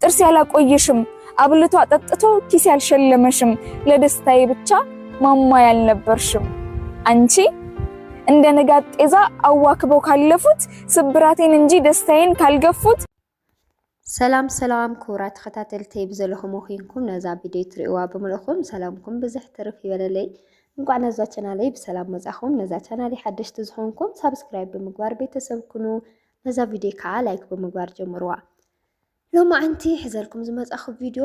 ጥርስ ያላቆየሽም አብልቶ አጠጥቶ ኪስ ያልሸለመሽም ለደስታዬ ብቻ ማማ ያልነበርሽም አንቺ እንደ ንጋት ጤዛ አዋክበው ካለፉት ስብራቴን እንጂ ደስታዬን ካልገፉት። ሰላም ሰላም ክቡራ ተኸታተልቲ ብዘለኹም ኮይንኩም ነዛ ቪድዮ ትሪእዋ ብምልእኹም ሰላምኩም ብዝሕ ትርፍ ይበለለይ። እንኳዕ ነዛ ቻናለይ ብሰላም መጻኹም። ነዛ ቻናለይ ሓደሽቲ ዝኾንኩም ሳብስክራይብ ብምግባር ቤተሰብ ኩኑ። ነዛ ቪድዮ ከዓ ላይክ ብምግባር ጀምርዋ። ሎማዓንቲ ሕዘልኩም ዝመጻኹ ቪድዮ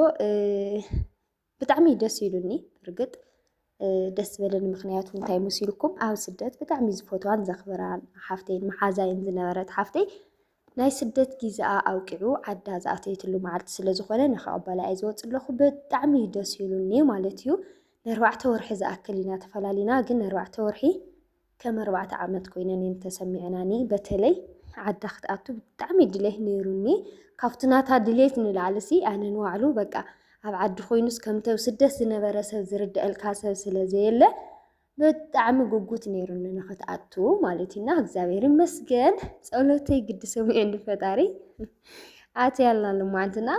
ብጣዕሚ ደስ ኢሉኒ እርግጥ ደስ ዝበለኒ ምክንያቱ እንታይ መሲልኩም ኣብ ስደት ብጣዕሚ ዝፈትዋን ዘኽብራን ሓፍተይን መሓዛይን ዝነበረት ሓፍተይ ናይ ስደት ግዜኣ ኣውቂዑ ዓዳ ዝኣተየትሉ መዓልቲ ስለ ዝኾነ ንክቕበላ እየ ዝወፅ ኣለኹ ብጣዕሚ እዩ ደስ ኢሉኒ ማለት እዩ ንኣርባዕተ ወርሒ ዝኣክል ኢና ተፈላሊና ግን ንኣርባዕተ ወርሒ ከም ኣርባዕተ ዓመት ኮይነን እየን ተሰሚዐናኒ በተለይ ዓዳ ክትኣቱ ብጣዕሚ ድሌት ነይሩኒ ካብቲ ናታ ድሌት ንላዕልሲ ኣነ ንባዕሉ በቃ ኣብ ዓዲ ኮይኑስ ከምተብ ስደት ዝነበረ ሰብ ዝርድአልካ ሰብ ስለ ዘየለ ብጣዕሚ ጉጉት ነይሩኒ ንክትኣቱ ማለት እዩና እግዚኣብሔር ይመስገን ጸሎተይ ግዲ ሰሚዑ ፈጣሪ ኣትያልና ልማዓንትና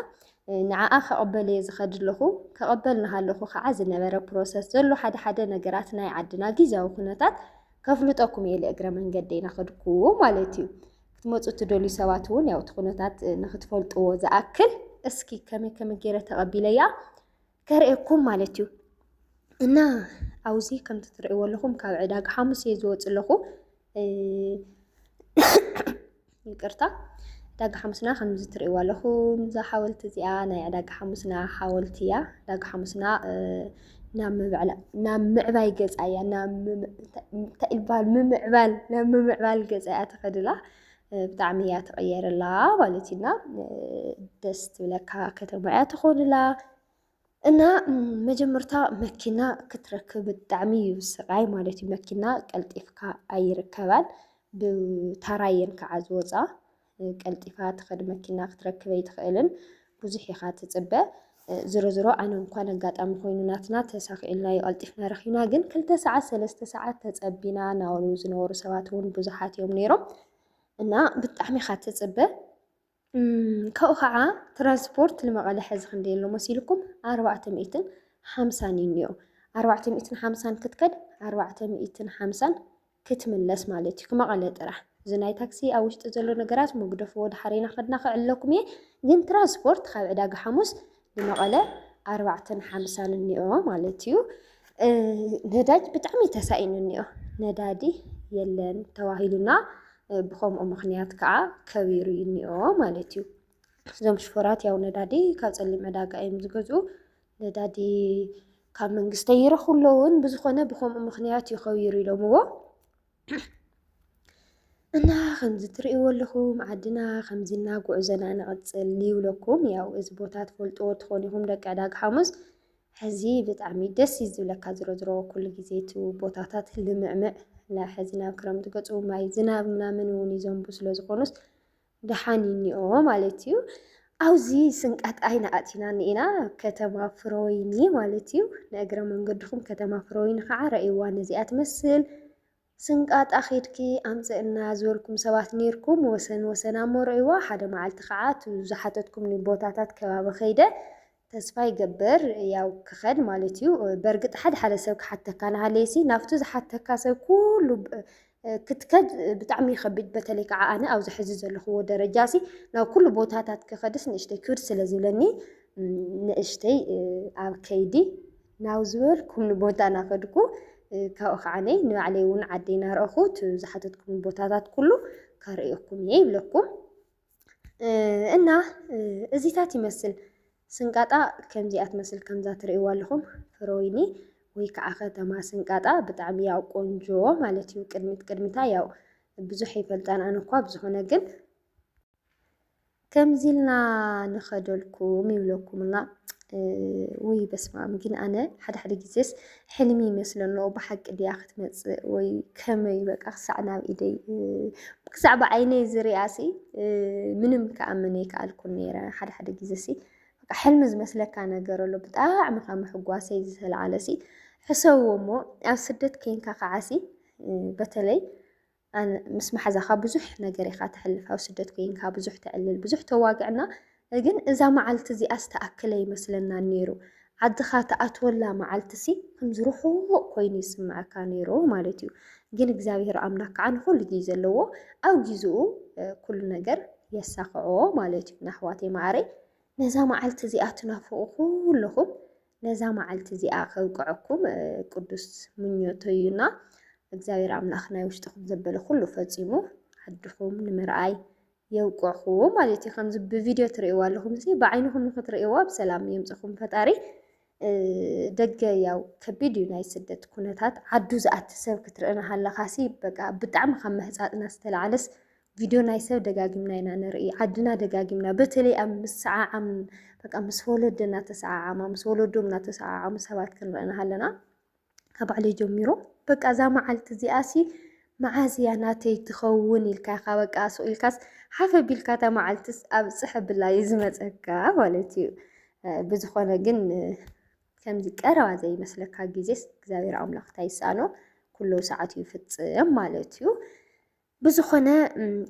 ንዓኣ ክቕበል እየ ዝኸድለኹ ክቕበል ናሃለኹ ካዓ ዝነበረ ፕሮሰስ ዘሎ ሓደ ሓደ ነገራት ናይ ዓድና ጊዚያዊ ኩነታት ከፍልጠኩም እየ ልእግረ መንገደይ ናኸድኩ ማለት እዩ። ክትመፁ እትደልዩ ሰባት እውን ያው እቲ ኩነታት ንክትፈልጥዎ ዝኣክል እስኪ ከመይ ከመይ ገይረ ተቐቢለያ ከርእየኩም ማለት እዩ እና ኣብዚ ከምቲ ትርእይዎ ኣለኹም ካብ ዕዳጋ ሓሙስ እየ ዝወፅ ኣለኹ ይቅርታ ዕዳጋ ሓሙስና ከምዚ ትርእይዎ ኣለኹም እዛ ሓወልቲ እዚኣ ናይ ዕዳጋ ሓሙስና ሓወልቲ እያ ዕዳጋ ሓሙስና ናብ ምዕባይ ገፃ እያ እንታይ ይበሃል ምምዕባል ናብ ምምዕባል ገፃ እያ ተኸድላ ብጣዕሚ እያ ትቕየርላ ማለት እዩ እና ደስ ትብለካ ከተማ እያ ትኾንላ እና መጀመርታ መኪና ክትረክብ ብጣዕሚ እዩ ስቓይ ማለት እዩ። መኪና ቀልጢፍካ ኣይርከባን ብታራ እየን ከዓ ዝወፃ ቀልጢፋ ትኸድ መኪና ክትረክብ ኣይትኽእልን። ብዙሕ ኢኻ ትጽበ ዝሮዝሮ ኣነ እንኳን ኣጋጣሚ ኮይኑ ናትና ተሳኺዕልናዮ ቀልጢፍና ረኺብና ግን ክልተ ሰዓት ሰለስተ ሰዓት ተጸቢና ናበሉ ዝነበሩ ሰባት እውን ብዙሓት እዮም ነይሮም እና ብጣዕሚ ኢኻ ትጽበ ካብኡ ከዓ ትራንስፖርት ንመቐለ ሕዚ ክንደይ ኣሎ መሲልኩም ኣርባዕተ ሚእትን ሓምሳን እዩ እኒኦ ኣርባዕተ ሚእትን ሓምሳን ክትከድ ኣርባዕተ ሚእትን ሓምሳን ክትምለስ ማለት እዩ ክመቐለ ጥራሕ እዚ ናይ ታክሲ ኣብ ውሽጢ ዘሎ ነገራት መግደፍዎ ድሓር ኢና ከድና ክዕለኩም እየ ግን ትራንስፖርት ካብ ዕዳጋ ሓሙስ ንመቐለ ኣርባዕተን ሓምሳን እኒኦ ማለት እዩ ነዳጅ ብጣዕሚ ተሳኢኑ እኒኦ ነዳዲ የለን ተባሂሉና ብከምኡ ምክንያት ከዓ ከቢሩ እኒኦ ማለት እዩ እዞም ሽፈራት ያው ነዳዲ ካብ ፀሊም ዕዳጋ እዮም ዝገዝኡ ነዳዲ ካብ መንግስቲ ኣይረኽቡ ኣለውን ብዝኾነ ብከምኡ ምኽንያት እዩ ከቢሩ ኢሎምዎ እና ከምዚ ትርእይዎ ኣለኹም ዓድና ከምዚ እና ጉዕዞና ንቕፅል ይብለኩም። ያው እዚ ቦታ ትፈልጥዎ ትኾኑ ኢኹም ደቂ ዕዳጋ ሓሙስ። ሕዚ ብጣዕሚ ደስ እዩ ዝብለካ ዝሮ ዝሮ ኩሉ ግዜ እቲ ቦታታት ልምዕምዕ ሕዚ ናብ ክረምቲ ገፁ ማይ ዝናብ ምናምን እውን ይዘንቡ ስለ ዝኾኑስ ደሓን እዩ እኒኦ ማለት እዩ። ኣብዚ ስንቀት ኣይና ኣእቲናን ኢና ከተማ ፍረወይኒ ማለት እዩ። ንእግረ መንገድኹም ከተማ ፍረወይኒ ከዓ ረእይዋ ነዚኣ ትመስል። ስንቃጣ ኼድኪ ኣምፅእና ዝበልኩም ሰባት ነይርኩም ወሰን ወሰና እሞ ረእይዋ ሓደ መዓልቲ ከዓ እቲ ዝሓተትኩምኒ ቦታታት ከባቢ ከይደ ተስፋ ይገብር ያው ክኸድ ማለት እዩ። በርግጥ ሓደ ሓደ ሰብ ክሓተካ ንሃለየሲ ናብቱ ዝሓተካ ሰብ ኩሉ ክትከድ ብጣዕሚ ይኸብድ። በተለይ ከዓ ኣነ ኣብዚ ሕዚ ዘለኹዎ ደረጃሲ ናብ ኩሉ ቦታታት ክኸድስ ንእሽተይ ክብድ ስለ ዝብለኒ ንእሽተይ ኣብ ከይዲ ናብ ዝበልኩምኒ ቦታ ናኸድኩ ካብኡ ከዓነይ ንባዕለይ እውን ዓደይ ናርኣኹ እቲ ዝሓተትኩም ቦታታት ኩሉ ከርእየኩም እየ ይብለኩም። እና እዚታት ይመስል ስንቃጣ ከምዚኣ ትመስል ከምዛ ትርእይዋ ኣለኹም ፍረወይኒ ወይ ከዓ ከተማ ስንቃጣ ብጣዕሚ ያው ቆንጆ ማለት እዩ። ቅድሚት ቅድሚታ ያው ብዙሕ ይፈልጣን ኣነ እኳ ብዝኾነ ግን ከምዚ ኢልና ንኸደልኩም ይብለኩምና ውይ በስማም ግን ኣነ ሓደ ሓደ ግዜስ ሕልሚ ይመስሎ ኣሎ ብሓቂ ድያ ክትመፅእ ወይ ከመይ በቃ ክሳዕ ናብ ኢደይ ክሳዕ ብዓይነይ ዝርኣሲ ምንም ክኣምን ኣይከኣልኩን ነይረ ሓደ ሓደ ግዜ ሲ በቃ ሕልሚ ዝመስለካ ነገር ኣሎ ብጣዕሚ ካብ ምሕጓሰይ ዝተለዓለ ሲ ሕሰብዎ እሞ ኣብ ስደት ከይንካ ከዓሲ በተለይ ኣን ምስ ማሓዛካ ብዙሕ ነገር ኢካ ተሕልፍ ኣብ ስደት ኮይንካ ብዙሕ ተዕልል ብዙሕ ተዋግዕና ግን እዛ ማዓልቲ እዚኣስ ትኣክል ኣይመስለናን ነይሩ ዓድካ ትኣትወላ ማዓልቲ ሲ ከምዚ ሩሑቅ ኮይኑ ይስመዐካ ነይሩ ማለት እዩ ግን እግዚኣብሔር ኣምላክ ካዓ ንኩሉ ግዜ ኣለዎ ኣብ ጊዝኡ ኩሉ ነገር የሳክዖ ማለት እዩ ናኣሕዋተይ ማዓረይ ነዛ ማዓልቲ እዚኣ ትናፍቁ ኩሉኩም ነዛ መዓልቲ እዚኣ ከብቅዐኩም ቅዱስ ምኞተዩና እግዚኣብሔር ኣምላኽ ናይ ውሽጥኹም ዘበለ ኩሉ ፈፂሙ ዓድኹም ንምርኣይ የብቅዕኹዎ ማለት እዩ። ከምዚ ብቪድዮ ትርእይዎ ኣለኹም እዚ ብዓይንኹም ንክትርእይዎ ኣብ ሰላም የምፅኹም ፈጣሪ። ደገ ያው ከቢድ እዩ ናይ ስደት ኩነታት ዓዱ ዝኣቲ ሰብ ክትርኢ ናሃለኻሲ በቃ ብጣዕሚ ካብ መህፃፅና ዝተላዓለስ ቪድዮ ናይ ሰብ ደጋጊምና ኢና ንርኢ፣ ዓድና ደጋጊምና በተለይ ኣብ ምስዓዓም በቃ ምስ ወለደ እናተሰዓዓማ ምስ ወለዶም እናተሰዓዓሙ ሰባት ክንርኢ ንሃለና ካብ ባዕለይ ጀሚሩ በቃ እዛ መዓልቲ እዚኣሲ መዓዝ እያ ናተይ ትኸውን ኢልካ ኢኻ በቃ ሱቕ ኢልካስ ሓፍ ኣቢልካ እታ መዓልትስ ኣብ ፅሕ ብላ እዩ ዝመፀካ ማለት እዩ። ብዝኾነ ግን ከምዚ ቀረባ ዘይመስለካ ግዜስ እግዚኣብሔር ኣምላኽ እንታይ ይሰኣኖ ኩሉ ሰዓት ይፍፅም ማለት እዩ። ብዝኾነ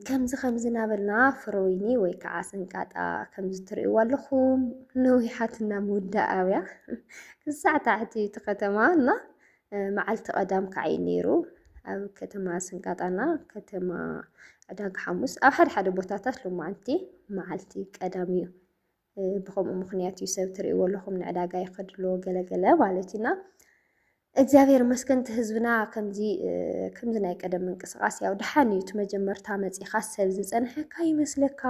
ከምዚ ከምዚ ናበልና ፍረወይኒ ወይ ከዓ ስንቃጣ ከምዚ ትርእይዋ ኣለኹም ነዊሓትና ምውዳእያ ክሳዕ ታሕቲ እቲ ከተማ እና መዓልቲ ቀዳም ካዓ እዩ ነይሩ ኣብ ከተማ ስንቃጣና ከተማ ዕዳጋ ሓሙስ ኣብ ሓደ ሓደ ቦታታት ሎማዓንቲ መዓልቲ ቀዳም እዩ ብከምኡ ምክንያት እዩ ሰብ ትርእይዎ ኣለኹም ንዕዳጋ ይኸድ ኣሎ ገለገለ ማለት እዩና እግዚኣብሔር መስገን እቲ ህዝብና ከምዚ ከምዚ ናይ ቀደም ምንቅስቃስ ያው ድሓን እዩ እቲ መጀመርታ መፂኻ ሰብ ዝፀንሐካ ይመስለካ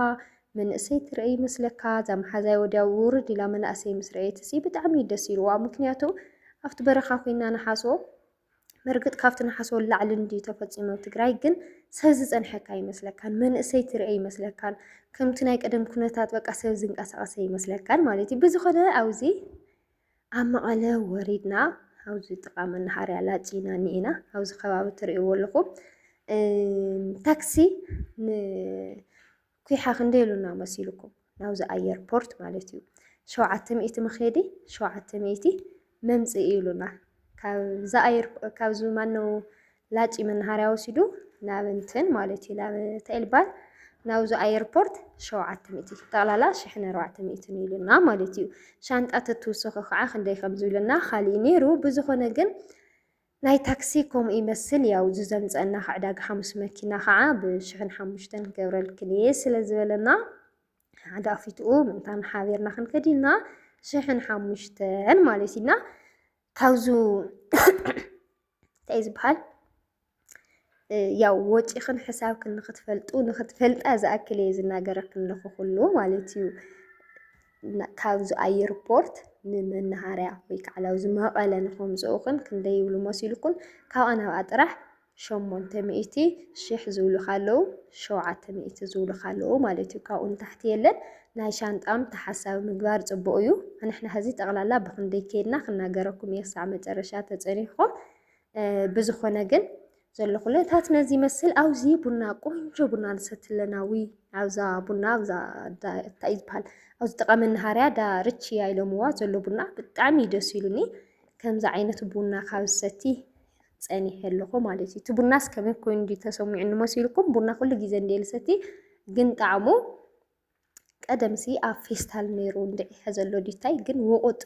መንእሰይ ትርኢ ይመስለካ እዛ መሓዛይ ወዲያ ውርድ ኢላ መናእሰይ ምስ ረኤት ሲ ብጣዕሚ እዩ ደስ ኢልዋ ምክንያቱ ኣብቲ በረኻ ኮይና ንሓሶ በርግጥ ካብቲ ንሓስቦ ንላዕሊ እንድዩ ተፈፂሙ ኣብ ትግራይ ግን ሰብ ዝፀንሐካ ኣይመስለካን መንእሰይ ትርኢ ኣይመስለካን ከምቲ ናይ ቀደም ኩነታት በቃ ሰብ ዝንቀሳቐሰ ኣይመስለካን ማለት እዩ ብዝኾነ ኣብዚ ኣብ መቐለ ወሪድና ኣብዚ ጥቓ መናሃርያ ላፂና እኒኤና ኣብዚ ከባቢ ትርእይዎ ኣለኹም ታክሲ ን ኲሓ ክንደይ ኣሉና መሲሉኩም ናብዚ ኣየር ፖርት ማለት እዩ ሸውዓተ ሚእቲ መኼዲ ሸውዓተ ሚእቲ መምጽኢ ኢሉና ካብዚ ኣየር ካብዚ ማነው ላጪ መናሃርያ ወሲዱ ናብ እንትን ማለት እዩ ናብ ተልባል ናብዚ ኣየርፖርት ሸውዓተ ሚእቲ ጠቕላላ ሽሕን ኣርባዕተ ሚእትን ኢሉና ማለት እዩ ሻንጣ ተትውሰኹ ከዓ ክንደይ ከም ዝብለና ካሊእ ነይሩ ብዝኾነ ግን ናይ ታክሲ ከምኡ ይመስል ያው እዚ ዘምጸእና ክዕ ዕዳጋ ሓሙስ መኪና ከዓ ብ ሽሕን ሓሙሽተን ክገብረልክን እየ ስለ ዝበለና ሓደ ኣፊትኡ ምእንታን ሓቢርና ክንከድ ኢልና ሽሕን ሓሙሽተን ማለት እዩ እና ካብዙ እንታይ እዩ ዝበሃል ያው ወጪኽን ሕሳብክን ንክትፈልጡ ንክትፈልጣ ዝኣክል እየ ዝናገረክን ለኹ ኩሉ ማለት እዩ። ካብዚ ኣየርፖርት ንመናሃርያ ወይ ከዓ ናብዚ መቐለ ንኸምፅኡኽን ክንደይ ይብሉ መሲልኩን? ካብኣ ናብኣ ጥራሕ ሸሞንተ ሚእቲ ሽሕ ዝብሉኻ ኣለዉ፣ ሸውዓተ ሚእቲ ዝብሉኻ ኣለዉ ማለት እዩ። ካብኡ ንታሕቲ የለን። ናይ ሻንጣም ተሓሳቢ ምግባር ፅቡቕ እዩ። ንሕና ሕዚ ጠቕላላ ብኽንደይ ከይድና ክናገረኩም እየ ክሳዕ መጨረሻ ተፀኒሕኹም። ብዝኾነ ግን ዘሎ ኩነታት ነዚ ይመስል። ኣብዚ ቡና ቆንጆ ቡና ንሰቲ ኣለና ዊ ኣብዛ ቡና ኣብዛ እንታይ እዩ ዝበሃል ኣብዚ ጥቃ መናሃርያ ዳ ርችያ ኢሎምዋ ዘሎ ቡና ብጣዕሚ እዩ ደስ ኢሉኒ። ከምዚ ዓይነት ቡና ካብ ዝሰቲ ፀኒሐ ኣለኹ ማለት እዩ። እቲ ቡናስ ከመይ ኮይኑ እንዲ ተሰሚዑኒ መሲልኩም ቡና ኩሉ ግዜ እንዲ ልሰቲ ግን ጣዕሙ ቀደምሲ ኣብ ፌስታል ኔሩ እንድዒ ሐዘሎ ዲታይ ግን ውቁጥ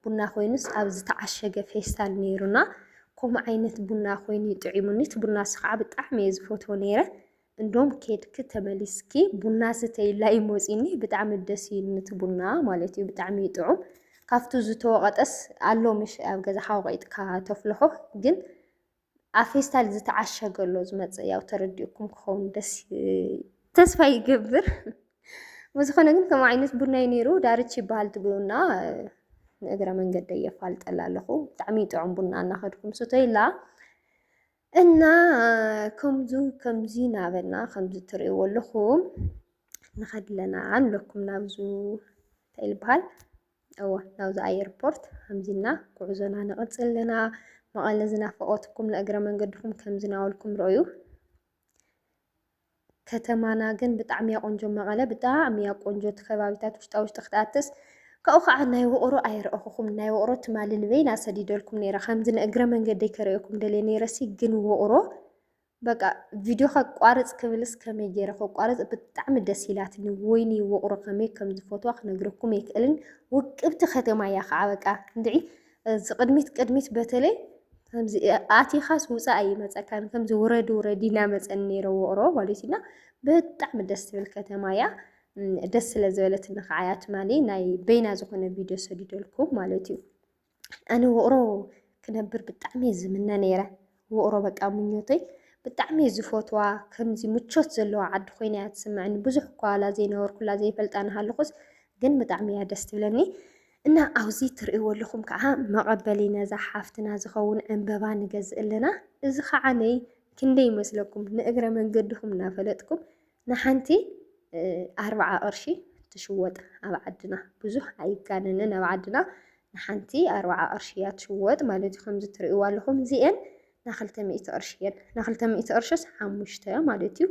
ቡና ኮይኑስ ኣብ ዝተዓሸገ ፌስታል ኔሩና ኮም ዓይነት ቡና ኮይኑ ጥዒሙኒ እቲ ቡና ስኸዓ ብጣዕሚ እየ ዝፈትዎ ኔረ እንዶም ኬድኪ ተመሊስኪ ቡና ስተይላ እዩ ሞፂኒ ብጣዕሚ ደስ እዩ ንቲ ቡና ማለት እዩ ብጣዕሚ እዩ ጥዑም ካብቱ ዝተወቐጠስ ኣሎ ምሽ ኣብ ገዛኻ ወቒጥካ ተፍልሖ ግን ኣብ ፌስታል ዝተዓሸገ ኣሎ ዝመፅእ ያው ተረዲኡኩም ክኸውን ደስ ተስፋ ይገብር። ብዝኾነ ግን ከም ዓይነት ቡና እዩ ነይሩ ዳርች ይበሃል እቲ ቡና ንእግረ መንገደይ የፋልጠላ ኣለኹ ብጣዕሚ ጥዑም ቡና እናኸድኩም ስተይላ እና ከምዙ ከምዚ ናበልና ከምዚ ትርእይዎ ኣለኹም ንኸድለና ኣለኩም ናብዙ እንታይ ይበሃል እወ ናብዚ ኣየርፖርት ሃምዚ እልና ጉዕዞና ንቕጽል ኣለና። መቐለ ዝናፈቐትኩም ንእግረ መንገድኹም ከምዚ ናበልኩም ርኦዩ። ከተማና ግን ብጣዕሚ እያ ቆንጆ መቐለ ብጣዕሚ እያ ቆንጆ እቲ ከባቢታት ውሽጣ ውሽጢ ክትኣትስ ካብኡ ከዓ ናይ ውቕሮ ኣይረእኹኹም ናይ ውቕሮ ትማሊ ንበይና ሰዲደልኩም ነይረ ከምዚ ንእግረ መንገደይ ከርእየኩም ደልየ ነይረሲ ግን ውቕሮ በቃ ቪድዮ ከቋርፅ ክብልስ ከመይ ገይረ ከቋርፅ ብጣዕሚ ደስ ኢላትኒ ወይኒ ውቕሮ ከመይ ከም ዝፈትዋ ክነግረኩም ኣይክእልን ውቅብቲ ከተማ እያ ከዓ በቃ እንድዒ እዚ ቅድሚት ቅድሚት በተለይ ከምዚ ኣቲኻስ ውፃእ ኣይመፀካን ከምዚ ውረዲ ውረዲ እናመፀን ነይረ ውቕሮ ማለት እዩና ብጣዕሚ ደስ ትብል ከተማ እያ ደስ ስለ ዝበለትኒ ከዓ እያ ትማሊ ናይ በይና ዝኾነ ቪድዮ ሰዲደልኩም ማለት እዩ ኣነ ውቕሮ ክነብር ብጣዕሚ እየ ዝምነ ነይረ። ውቕሮ በቃ ምኞተይ ብጣዕሚ እየ ዝፈትዋ ከምዚ ምቾት ዘለዋ ዓዲ ኮይና እያ ትስምዐኒ። ብዙሕ እኳ ዋላ ዘይነበርኩላ ዘይፈልጣ ንሃለኹስ ግን ብጣዕሚ እያ ደስ ትብለኒ። እና ኣብዚ ትርእይዎ ኣለኹም ከዓ መቐበሊ ነዛ ሓፍትና ዝኸውን ዕንበባ ንገዝእ ኣለና። እዚ ከዓ ነይ ክንደይ ይመስለኩም ንእግረ መንገድኹም እናፈለጥኩም ንሓንቲ ኣርብዓ ቅርሺ ትሽወጥ ኣብ ዓድና ብዙሕ ኣይጋነንን ኣብ ዓድና ንሓንቲ ኣርብዓ ቅርሺ እያ ትሽወጥ ማለት እዩ ከምዚ ትርእይዋ ኣለኹም እዚኤን ናክልተ ሚእቲ ቅርሺ እየን ናክልተ ሚእቲ ቅርሽስ ሓሙሽተ ማለት እዩ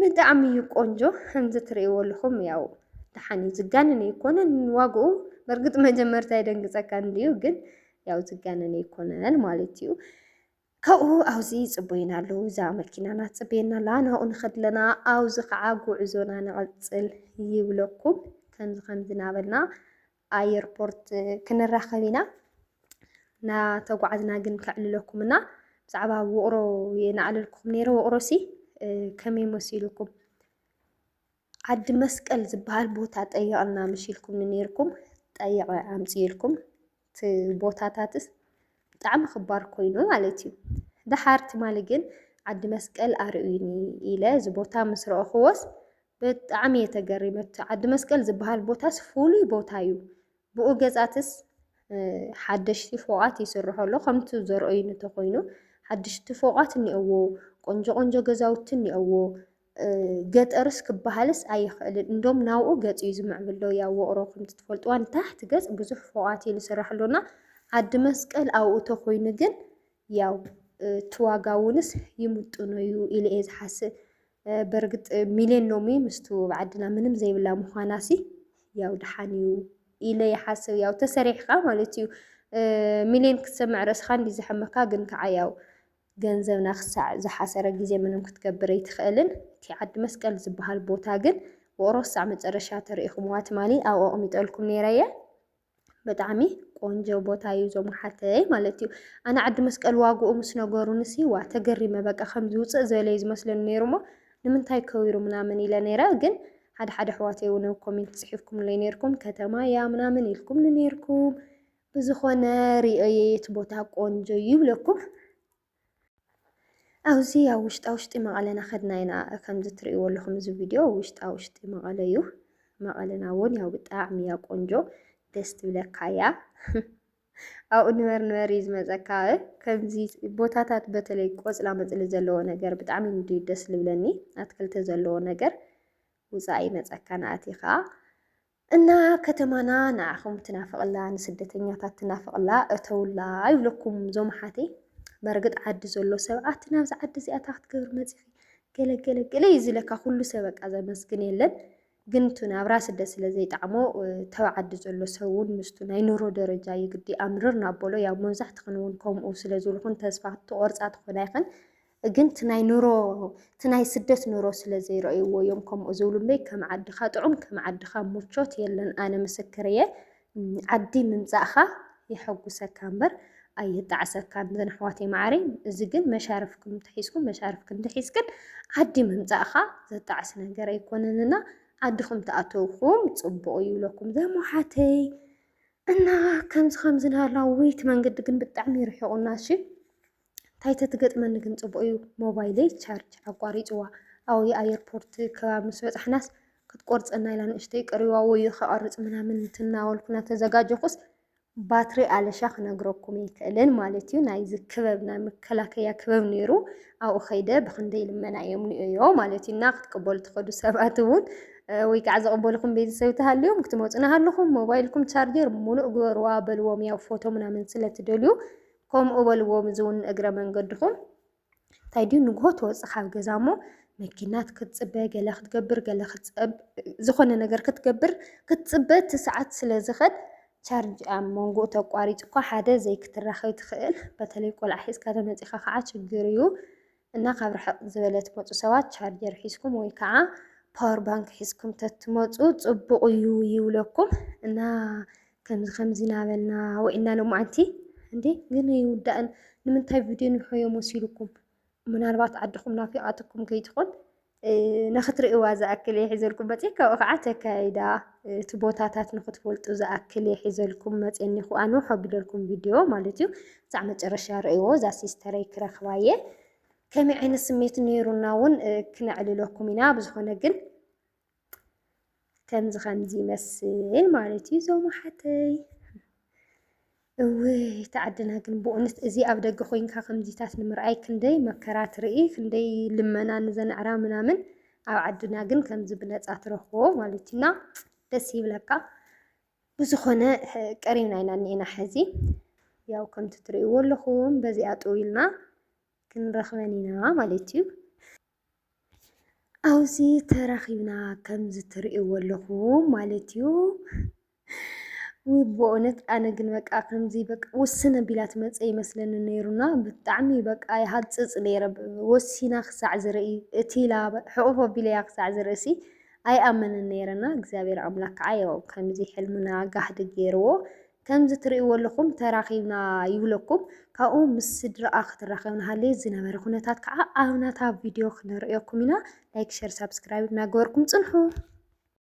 ብጣዕሚ እዩ ቆንጆ ከምዚ ትርእይዎ ኣለኹም ያው ደሓን እዩ ዝጋነን ኣይኮነን ዋግኡ በእርግጥ መጀመርታ የደንግፀካ እንድዩ ግን ያው ዝጋነን ኣይኮነን ማለት እዩ ካብኡ ኣብዚ ይጽበዩና ኣለዉ። እዛ መኪናና ትጽበየና ኣላ፣ ናብኡ ንኸድ ኣለና፣ ኣብዚ ከዓ ጉዕዞና ንቕጽል ይብለኩም። ከምዚ ከምዚ እናበልና ኣየርፖርት ክንራኸብ ኢና። እናተጓዓዝና ግን ከዕልለኩም እና ብዛዕባ ውቕሮ የናዕለልኩም ነይረ። ውቕሮሲ ከመይ መሲሉኩም? ዓዲ መስቀል ዝበሃል ቦታ ጠይቕና ምሽ ኢልኩምኒ ነይርኩም ጠይቐ ኣምፅኤልኩም እቲ ቦታታትስ ብጣዕሚ ክባር ኮይኑ ማለት እዩ ደሓር ትማሊ ግን ዓዲ መስቀል ኣርእዩኒ ኢለ እዚ ቦታ ምስ ረእኽዎስ ብጣዕሚ እየ ተገሪመ እቲ ዓዲ መስቀል ዝበሃል ቦታስ ፍሉይ ቦታ እዩ ብኡ ገፃትስ ሓደሽቲ ፎቓት ይስርሖ ኣሎ ከምቲ ዘርእዩኒ ተኮይኑ ሓደሽቲ ፎቓት እኒኦዎ ቆንጆ ቆንጆ ገዛውቲ እኒኦዎ ገጠርስ ክበሃልስ ኣይኽእልን እንዶም ናብኡ ገፅ እዩ ዝምዕብል ዶ ያው ውቕሮ ከምቲ ትፈልጥዋ ንታሕቲ ገፅ ብዙሕ ፎቓት እዩ ዝስራሕ ሎና ዓዲ መስቀል ኣብኡ ተኾይኑ ግን ያው እቲ ዋጋ እውንስ ይምጥኖ እዩ ኢለ እየ ዝሓስብ በርግጥ ሚልዮን ሎሚ ምስቱ ኣብ ዓድና ምንም ዘይብላ ምዃናሲ ያው ድሓን እዩ ኢለ ይሓስብ ያው ተሰሪሕካ ማለት እዩ ሚልዮን ክትሰምዕ ርእስኻ እንዲ ዘሐመካ ግን ከዓ ያው ገንዘብና ክሳዕ ዝሓሰረ ግዜ ምንም ክትገብር ኣይትኽእልን። እቲ ዓዲ መስቀል ዝብሃል ቦታ ግን ውቕሮ ክሳዕ መጨረሻ ተሪኢኹምዋ ትማሊ ኣብኡ ኣቕሚጠልኩም ነይረ እየ። ብጣዕሚ ቆንጆ ቦታ እዩ እዞም ሓተይ ማለት እዩ። ኣነ ዓዲ መስቀል ዋግኡ ምስ ነገሩንሲ ዋ ተገሪመ በቃ ከም ዝውፅእ ዝበለ እዩ ዝመስለኒ ነይሩ እሞ ንምንታይ ከዊሩ ምናምን ኢለ ነይረ ግን ሓደ ሓደ ኣሕዋተይ እውን ኮሜንት ፅሒፍኩምለይ ነይርኩም ከተማ እያ ምናምን ኢልኩምኒ ነይርኩም ብዝኾነ ሪኦየ እቲ ቦታ ቆንጆ እዩ ይብለኩም። ኣብዚ ኣብ ውሽጣ ውሽጢ መቐለ ናኸድና ኢና ከምዚ ትርእይዎ ኣለኹም እዚ ቪድዮ ውሽጣ ውሽጢ መቐለ እዩ። መቐለና እውን ያው ብጣዕሚ እያ ቆንጆ ደስ ትብለካ እያ። ኣብኡ ንበር ንበር እዩ ዝመፀካ ከምዚ ቦታታት በተለይ ቆፅላ መፅሊ ዘለዎ ነገር ብጣዕሚ እንድዩ ደስ ልብለኒ ኣትክልቲ ዘለዎ ነገር ውፃእ ይመፀካ ንኣቲኻ እና ከተማና ንዓኹም ትናፍቕላ ንስደተኛታት ትናፍቕላ እተውላ ይብለኩም ዞም ሓተይ በርግጥ ዓዲ ዘሎ ሰብ ኣቲ ናብዚ ዓዲ እዚኣ እታ ክትገብር መፂኺ ገለገለገለ እዩ ዝለካ ኩሉ ሰብ በቃ ዘመስግን የለን ግን እቲ ናብራ ስደት ስለ ዘይጣዕሞ ተብ ዓዲ ዘሎ ሰብ እውን ምስቱ ናይ ኑሮ ደረጃ እዩ ግዲ ኣምርር ናበሎ ያው መብዛሕትኽን እውን ከምኡ ስለ ዝብልኹን ተስፋ ትቆርፃ ትኾና ይኽን ግን እቲ ናይ ኑሮ እቲ ናይ ስደት ኑሮ ስለ ዘይረእይዎ እዮም ከምኡ ዝብሉ እምበይ ከም ዓድኻ ጥዑም ከም ዓድኻ ሙቾት የለን ኣነ ምስክር እየ ዓዲ ምምጻእኻ የሐጉሰካ እምበር ኣየጣዕሰካን እዘን ኣሕዋተይ መዓረይ እዚ ግን መሻርፍኩም እንተሒዝኩም መሻርፍክን እንተሒዝክን ዓዲ ምምፃእኻ ዘጣዕስ ነገር ኣይኮነንና ዓድኹም ተኣተውኩም ፅቡቕ እዩ ይብለኩም ዘም ሓተይ እና ከምዚ ከምዚ ናላ ውይት መንገዲ ግን ብጣዕሚ ይርሕቑና እሺ እንታይ ተትገጥመኒ ግን ፅቡቅ እዩ ሞባይለይ ቻርጅ ኣቋሪፅዋ ኣብኡ ኣየርፖርት ከባቢ ምስ በፃሕናስ ክትቆርፀና ኢላ ንእሽተይ ቀሪዋ ወዮ ከቐርፅ ምናምን እንትናወልኩ እናተዘጋጀኹስ ባትሪ ኣለሻ ክነግረኩም ኣይክእልን ማለት እዩ ናይዚ ክበብ ናይ መከላከያ ክበብ ነይሩ ኣብኡ ከይደ ብክንደይ ልመና እዮም ንእዮ ማለት እዩ እና ክትቅበሉ ትኸዱ ሰባት እውን ወይ ከዓ ዘቕበልኹም ቤተሰብ ተሃልዮም ክትመፁ ናሃለኹም ሞባይልኩም ቻርጀር ሙሉእ ግበርዋ በልዎም ያው ፎቶ ምናምን ስለትደልዩ ከምኡ በልዎም እዚ እውን እግረ መንገድኹም እንታይ ድዩ ንግሆ ትወፅእ ካብ ገዛ እሞ መኪናት ክትፅበ ገለ ክትገብር ገለ ዝኾነ ነገር ክትገብር ክትፅበ እቲ ሰዓት ስለ ዝኸድ ቻርጅ ኣብ መንጎ ተቋሪፅ እኳ ሓደ ዘይክትራኸብ ትኽእል በተለይ ቆልዓ ሒዝካ ተመፂኻ ከዓ ችግር እዩ። እና ካብ ርሕቅ ዝበለ ትመፁ ሰባት ቻርጀር ሒዝኩም ወይ ከዓ ፓወር ባንክ ሒዝኩም ተትመፁ ፅቡቅ እዩ ይብለኩም እና ከምዚ ከምዚ ናበልና ወኢና ሎማዓንቲ እንዴ ግን ይውዳእን ንምንታይ ቪድዮ ንርሆዮ መሲሉኩም ምናልባት ዓድኹም ናፊቃትኩም ከይትኾን ንክትርእይዋ ዝኣክል እየ ሒዘልኩም መፂ ካብኡ ከዓ ተካይዳ እቲ ቦታታት ንክትፈልጡ ዝኣክል እየ ሒዘልኩም መፂ እኒኹ ኣንውሖ ኣቢለልኩም ቪድዮ ማለት እዩ ክሳዕ መጨረሻ ርእይዎ እዛ ሲስተረይ ክረኽባ እየ ከመይ ዓይነት ስሜት ነይሩና እውን ክነዕልለኩም ኢና ብዝኾነ ግን ከምዚ ከምዚ ይመስል ማለት እዩ ዞም ሓተይ እውይ ተዓድና ግን ብእውነት እዚ ኣብ ደገ ኮይንካ ከምዚታት ንምርኣይ ክንደይ መከራ ትርኢ ክንደይ ልመና ንዘንዕራ ምናምን ኣብ ዓድና ግን ከምዚ ብነፃ ትረኽቦ ማለት እዩና ደስ ይብለካ ብዝኾነ ቀሪና ኢና እኒኤና ሕዚ ያው ከምቲ ትርእይዎ ኣለኹም በዚኣ ጥው ኢልና ክንረኽበን ኢና ማለት እዩ ኣብዚ ተራኺብና ከምዚ ትርእይዎ ኣለኹም ማለት እዩ። ውይ ብእውነት ኣነ ግን በቃ ከምዚ በቃ ውስን ኣቢላ ትመጽእ ኣይመስለኒ ነይሩ እና ብጣዕሚ በቃ ይሃጽጽ ነይረ ወሲና ክሳዕ ዝርኢ እቲ ኢላ ሕቕፍ ኣቢለያ ክሳዕ ዝርእሲ ኣይኣምንን ነይረ እና እግዚኣብሔር ኣምላክ ከዓ ያው ከምዚ ሕልምና ጋህዲ ገይርዎ። ከምዚ ትርእይዎ ኣለኹም ተራኺብና ይብለኩም ካብኡ ምስ ስድራኣ ክትራኸብ ንሃለየት ዝነበረ ኩነታት ከዓ ኣብ ናታ ቪድዮ ክነርእየኩም ኢና ላይክ ሸር ሳብስክራይብ እናገበርኩም ፅንሑ።